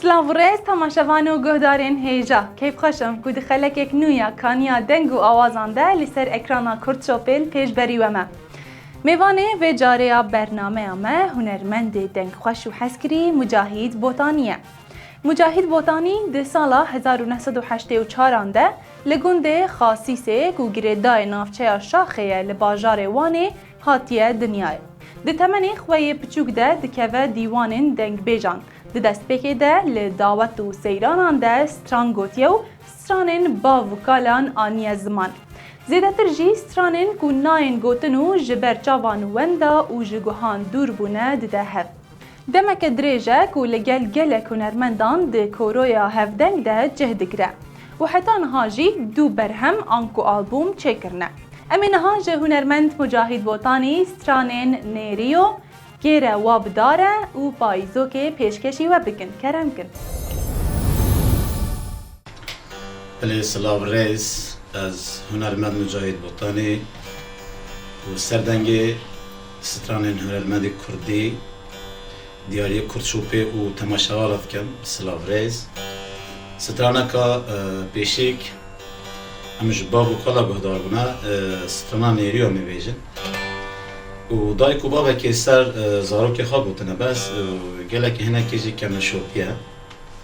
Silav û rêz temaşevan û guhdarên hêja. Keyfxweş im ku di xelekek nû ya kaniya deng û awazan de li ser ekrana Kurtçopêl pêş berî we me. Mêvanê vê carê ya bernameya me hunermendê dengxweş û hezkirî Mucahîd Botanî ye. Mucahîd Botanî di sala hezar û neh sed û heştê û çar an de li gundê Xasîsê ku girêdayê navçeya Şaxê ye li bajarê Wanê Hatiye dinyayê. Di temenê xwe yê piçûk de dikeve dîwanên dengbêjan. Di destpêkê de li dawet û seyranan de stran gotiye û stranên bav û kalan aniye ziman. Zêdetir jî stranên ku nayên gotin û ji ber çavan wenda û ji guhan dûr bûne dide hev. Demeke dirêj e ku li gel gelek hunermendan di koroya hevdeng de cih digire û heta niha jî du berhem anku albûm çêkirine. Em ê niha ji hunermend Mujahîd Botanî stranên Nêrîyo, Kêre wa bi dar e û Payîzokê pêşkêşî we bikin. Kerem kin. Belê silav rêz ez hunermend Mujahîd Botanî û serdengê Stranên hunermendê kurdî, diyariyê kurd şopê û temaşewa re dikin. Silav rêz. Straneka pêşîk em ji bav û kala guhdar bûne, strana nêrî ya mêvêjin û dayik û bavekê ser zarokê xwe gotine bes û gelekî hinekê jî keme şopî ye.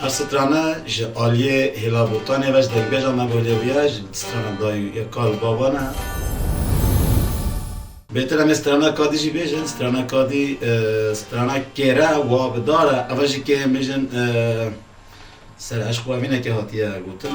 Her strana ji aliyê Hilal Botanê ve ji derbêja me bûyerê bûye, ji strana dayî û kal û baban e. Bêtir em ê strana kadî jî bêjin, strana kadî strana kêr e û abidar e, ev e ji kê yên bêjin ser eşqwevînekê hatiye gotin.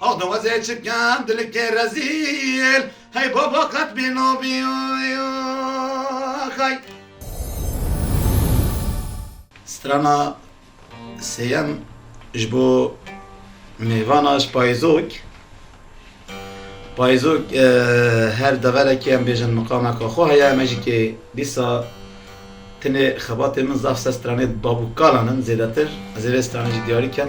Ax dawazê çikan dilikê rezîl. Hey baba qet bê navê xay. Strana sêyem ji bo mêvana ji payizok. Payizok her deverekê em bêjin miqameka xwe heye me jî kê dîsa tenê xebatê min zaf ser stranê babûkalan in zêdetir. Ez ê vê stranê jî diyarî kem.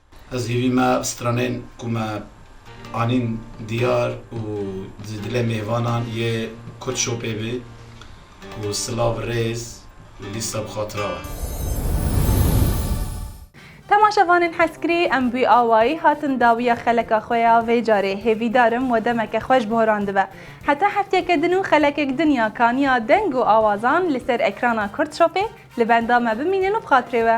Ez hîvî me stranên ku me anîn diyar û di dilê mêvanan yê Kurd Shopê bî û silav rêz û lîsta bi xatira we. Temaşevanên hezkirî, em bi awayî hatin dawiya xeleka xwe ya vê carê. Hêvîdar im we demeke xweş bi horan dibe. Heta hefteyeke din û xelekek din ya kaniya deng û awazan li ser ekrana Kurd Shopê li benda me bimînin û bi xatirê we.